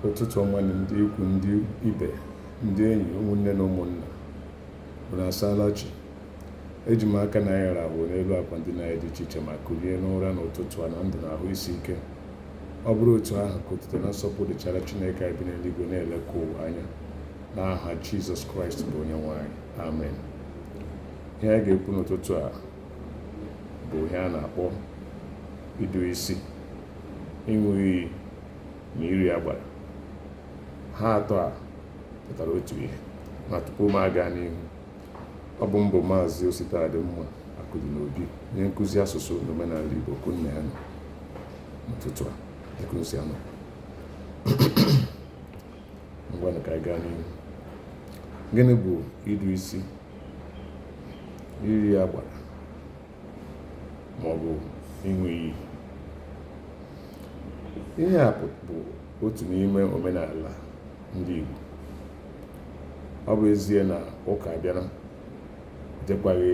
ụtụtụ ọma nụ ndị ikwu ndị ibe ndị enyi ụmụnne na ụmụnna unu asaala chi eji m aka na anyị rahụ n'elu akwa ndina anyị dị iche iche ma kulie n'ụra n'ụtụtụ a na ndụ na ahụ isi ike ọ bụrụ otu ahụ ka otuto na nsọpụ dịchara chineke anyị bi n'eluigwe na-elekwa ụwa anya n'aha jizọs kraịst bụ onye nwe anyị amen ihe anyị ga-ekwu n'ụtụtụ a bụ ihe a na-akpọ idu isi ịṅụ iyi na iri agbara ha atọ a pụtara otu ihe ma tupu m aga n'ihu ọ bụ m bụ maazị ositadịmma akụdịnobi onye nkụzi asụsụ na omenala igbo ka unu na ya nọ n'ụtụtụ a dịka o si anọ ngwanụ ka a gaa n'ihu gịnị bụ idu isi iri agbara ma ọ bụ ịṅụ iyi ihe a bụ otu n'ime omenala ndị Igbo ọ bụ ezie na ụka bịara dịkwaghị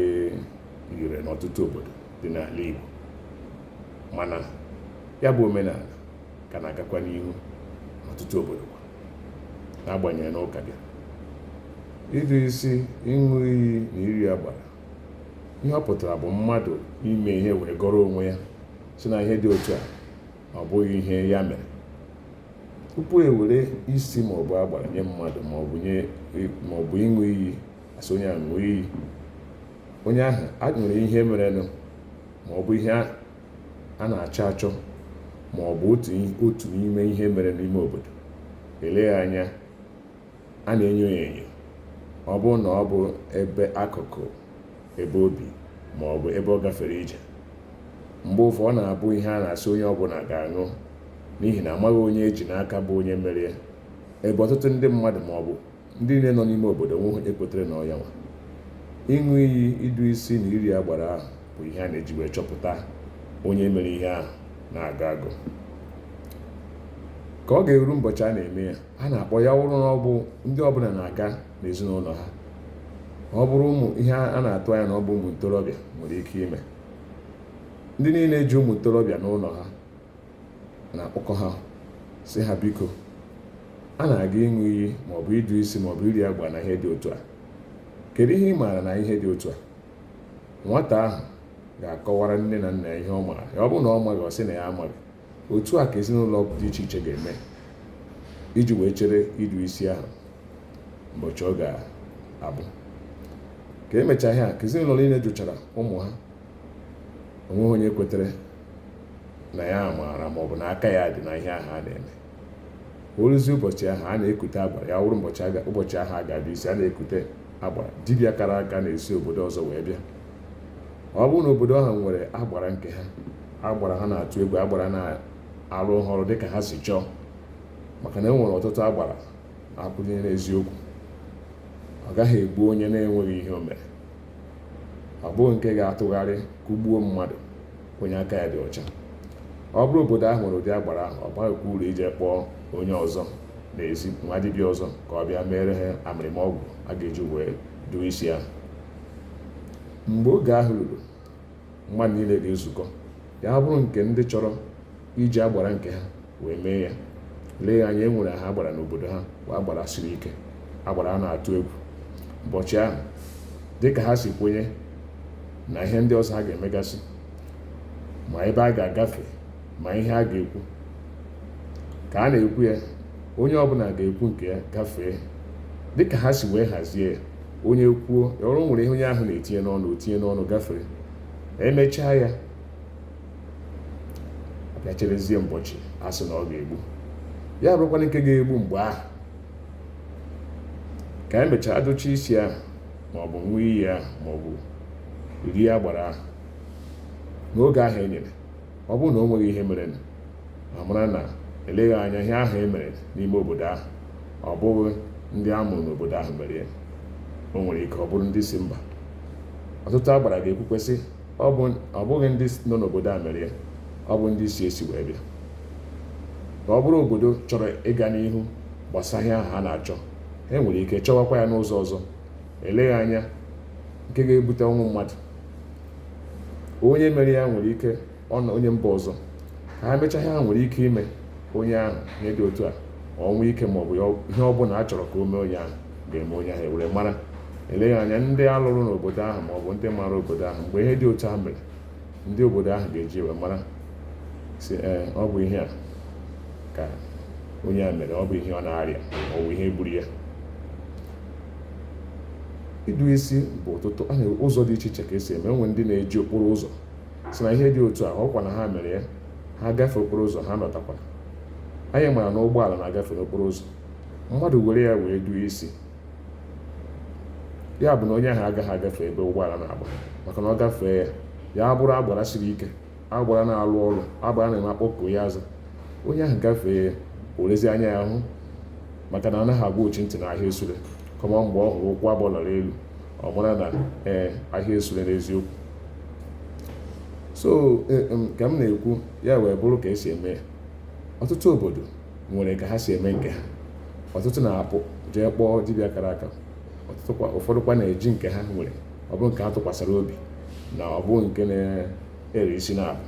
ire n'ọtụtụ obodo dị n'ala Igbo mana ya bụ omenala ka na-agakwa n'ihu n'ọtụtụ obodo kwa n'agbanyeghị na ụka bịara idu isi ịṅụ iyi na iri agbara ihe ọ pụtara bụ mmadụ ime ihe wee gọrọ onwe ya sị na ihe dị otu a na ọ bụghị ihe ya mere tupu e were isi ma ọ bụ agbara nye mmadụ ma ọ bụ nye ma ọ bụ ịṅụ iyi a sị onye a ṅụọ iyi onye ahụ a nwere ihe merenụ ma ọ bụ ihe a a na-achọ achọ ma ọ bụ otu otu n'ime ihe mere n'ime obodo eleghị anya a na-enyo ya enyo ọ bụrụ na ọ bụ ebe akụkụ ebe o bi ma ọ bụ ebe ọ gafere ije mgbe ụfọ ọ na-abụ ihe a na-asị onye ọbụla ga-aṅụ n'ihi na amaghị onye e ji n'aka bụ onye mere ya ebe ọtụtụ ndị mmadụ ma ọ bụ Ndị niile nọ n'ime obodo o nwehu onye kwetere na ọ yanwa. Ịṅụ iyi idu isi na iri agbara ahụ bụ ihe a na-eji wee chọpụta onye mere ihe ahụ na-agọ agọ. Ka o ga-eru ụbọchị a na-eme ya, a na-akpọ ya wụrụ na ọ bụ ndị ọbụla na-aga n'ezinụlọ ha. Ọ bụrụ ụmụ ihe a na-atụ anya na ọ bụ ụmụ ntorobịa nwere ike ime. Ndị niile ji ụmụ ntorobịa n'ụlọ ha na-akpọkọ ha sị ha biko a na-aga ịṅụ iyi maọbụ idu isi maọbụ iri agbara na ihe dị otu a kedu ihe ị maara na ihe dị otu a nwata ahụ ga-akọwara nne na nna ya ihe ọ maara ọ bụrụ na ọ maghị ọ sị na ya amaghị otu a ka ezinụlọ dị iche iche ga-eme iji wee chere idu isi ahụ ụbọchị ọ ga-abụ ka emechaa ihe a ka ezinụlọ niile jụchara ụmụ ha o nweghị onye kwetere na ya maara ma ọ bụ na aka ya dị na ihe ahụ a na-eme o ruzie ụbọchị ahụ a na-ekute agbara ya wụrụ ụbọchị ahụ a ga-adụ isi a na-ekute agbara dibịa kara aka na-esi obodo ọzọ wee bịa ọ bụrụ na obodo ahụ nwere agbara nke ha agbara ha na-atụ egwu agbara na-arụ ọrụ dịka ha si chọọ maka na e nwere ọtụtụ agbara kwụnyere eziokwu ọ gaghị egbu onye na-enweghị ihe o mere ọ bụghị nke ga-atụgharị kụgbuo mmadụ onye aka ya dị ọcha ọ bụrụ obodo ahụ nwere ụdị agbara ahụ ọ baghịkwa uru ije kpọọ onye ọzọ n'ezi nwa dibịa ọzọ ka ọ bịa meere ha amịrịma ọgwụ a ga-eji wee dụọ isi ahụ mgbe oge ahụ ruru mmadụ niile ga-ezukọ ya bụrụ nke ndị chọrọ iji agbara nke ha wee mee ya eleghị anya e nwere ha agbara n'obodo ha bụ agbara siri ike agbara a na-atụ egwu ụbọchị ahụ dịka ha si kwenye na ihe ndị ọzọ ha ga-emegasị ma ebe a ga-agafe ma ihe a ga-ekwu ka a na-ekwu ya onye ọbụla ga-ekwu nke ya gafee dịka ha si wee hazie ya onye kwuo ọ bụrụ nwere ihe onye ahụ na-etinye n'ọnụ o tinye n'ọnụ gafere e mechaa ya a bịa cherezie mbọchị a sị na ọ ga-egbu ya bụrụkwanụ nke ga-egbu mgbe ahụ ka e mechaa a dụchaa isi ahụ maọbụ ṅụọ iyi ahụ maọbụ rie agbara ahụ n'oge ahụ e nyere ọ bụrụ na o nweghị ihe merenụ a mara na eleghị anya ihe ahụ e mere n'ime obodo ahụ ọ bụghị ndị a mụrụ n'obodo ahụ mere ya o nwere ike ọ bụrụ ndị si mba ọtụtụ agbara ga-ekwukwa sị ọ bụghị ndị nọ n'obodo a mere ya ọ bụ ndị si esi wee bịa ka ọ bụrụ obodo chọrọ ịga n'ihu gbasa ihe ahụ ha na-achọ e nwere ike chọwakwa ya n'ụzọ ọzọ eleghị anya nke ga-ebute ọnwụ mmadụ onye mere ya nwere ike ọ na onye mba ọzọ ka ha mechaa ihe ha nwere ike ime onye ahụ ihe dị otu a ọnwụ ike ma ọ bụ ihe ọ bụla a chọrọ ka o mee onye ahụ ga-eme onye ahụ e wee mara eleghị anya ndị a lụrụ n'obodo ahụ ma ọ bụ ndị mara obodo ahụ mgbe ihe dị otu a mere ndị obodo ahụ ga-eji wee mara sị ee ọ bụ ihe a ka onye a mere ọ bụ ihe ọ na-arịa ọ bụ ihe gburu ya ịdụ isi bụ ọtụtụ a na-enwe ụzọ dị iche iche ka e si eme e nwere ndị na-eji okporo ụzọ sị na ihe dị otu a ọ bụkwa na ha mere ya ha gafee okporo ụzọ ha nọtakwala anyị mara na ụgbọala na-agafe n'okporo ụzọ mmadụ were ya wee dụọ isi ya bụ na onye ahụ agaghị agafe ebe ụgbọala na-agba maka na ọ gafee ya ya bụrụ agbara siri ike agbara na-alụ ọrụ agbara na-eme a kpọkuo ya aza onye ahụ gafee o werezi anya ya hụ maka na anaghị agwa ochi ntị na ahịa esure kama mgbe ọ hụrụ ụkwụ abụọ lara elu ọ mara na ee ahịa esure n'eziokwu so e, ka m na-ekwu ya wee bụrụ ka e si eme ọtụtụ obodo nwere ka ha si eme nke ha ọtụtụ na-apụ jee kpọọ dibịa kara aka ụfọdụkwa na-eji nke ha nwere ọ bụ nke ha tụkwasịrị obi na ọ bụ nke ere isi na-abụ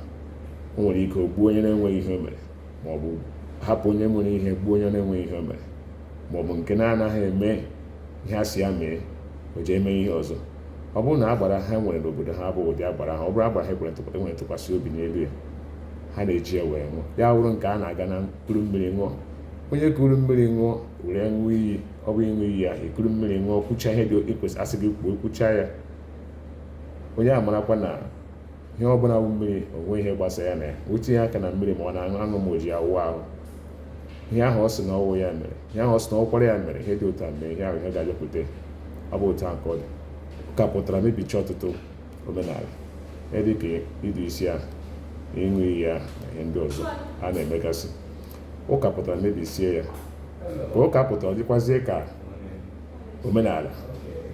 o nwere ike o gbuo onye na-enweghị ihe o mere ma ọ bụ hapụ onye mere ihe gbuo onye na-enweghị ihe o mere ma ọ bụ nke na-anaghị eme ihe a sị ya mee o jee mee ihe ọzọ ọ bụrụ na agbara ha nwere n'obodo ha bụ ụdị agbara ha ọ bụrụ agbara ha ekwere ntụkwa- e nwere ntụkwasị obi n'elu ya ha na-eji ya wee ṅụọ ya wụrụ nke a na-aga na-ekuru mmiri ṅụọ onye kuru mmiri ṅụọ were ṅụọ iyi ọ bụ ịṅụ iyi ahụ i kuru mmiri ṅụọ kwuchaa ihe ndị e kwesị a sị gị kwuo kwuchaa ya onye a marakwa na ihe ọ bụla bụ mmiri o nwe ihe gbasa ya na ya o tinye aka na mmiri ma ọ na-aṅụ aṅụ ma o ji awụ ahụ ihe ahụ ọ sị na ọ wụ ya mere ihe ahụ ọ sị na ọkwara ya mere ihe dị otu a mee ihe ahụ ihe ga-abịakwute ọ bụ otu ahụ ka ọ dị ụka pụtara mebicha ọtụtụ omenala ihe dị ka ịdụ isi ahụ ịṅụ iyi ahụ na ihe ndị ọzọ a na-emegasị ụka pụtara mebisie ya ka ụka pụtara ọ dịkwazie ka omenala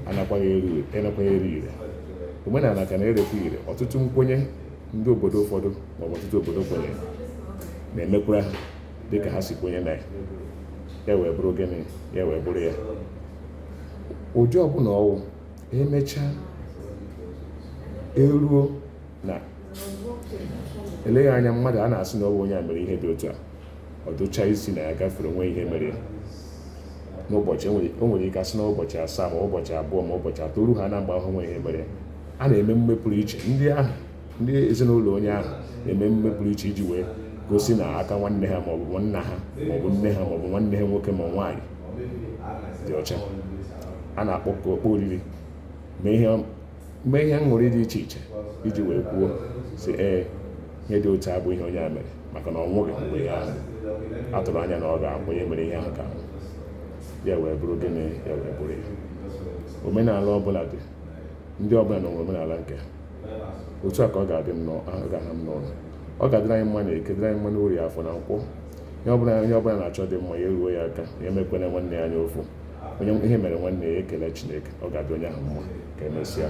anakwaghị ere ire anakwaghị ere ire omenala ka na-erekwa ire ọtụtụ nkwenye ndị obodo ụfọdụ maọbụ ọtụtụ obodo kwenyere na-emekwara ha dịka ha si kwenye na ya ya wee bụrụ gịnị ya wee bụrụ ya ụdị ọbụla ọ wụ emechaa eruo na eleghị anya mmadụ a na-asị na ọ bụ onye a mere ihe dị otu a ọ dụcha isi na ya gafere o nweghị ihe mere ya n'ụbọchị o nwere ike a sị na ụbọchị asaa ma ụbọchị abụọ ma ụbọchị atọ o ru ha na mgbe ahụ o nweghị ihe mere ya a na-eme mmemme pụrụ iche ndị ahụ ndị ezinụlọ onye ahụ na-eme mmemme pụrụ iche iji wee gosi na aka nwanne ha maọbụ nwanna ha maọbụ nne ha maọbụ nwanne ha nwoke ma nwaanyị dị ọcha a na-akpọ ọkpụkpọ oriri mee ihe mee ihe aṅụrị dị iche iche iji wee kwuo sị ee ihe dị otu a abụghị ihe onye a mere maka na ọ nwụghị mgbe ihe ahụ a tụrụ anya na ọ ga-anwụ onye mere ihe ahụ ga-anwụ ya wee bụrụ gịnị ya wee bụrụ ya omenala ọbụla dị ndị ọbụla nwere omenala nke ha otu a ka ọ ga-adị m n'ahụ ga-aha m n'ọnụ ọ ga-adịrị anyị mma na eke dịrị anyị mma n'orie afọ na nkwọ ihe ọbụla onye ọbụla na-achọ dị mma ya eruo ya aka ya emekwana nwanne ya anya ụfụ onye ihe mere nwanne ya ekele Chineke ọ ga-adị onye ahụ mma ka emesịa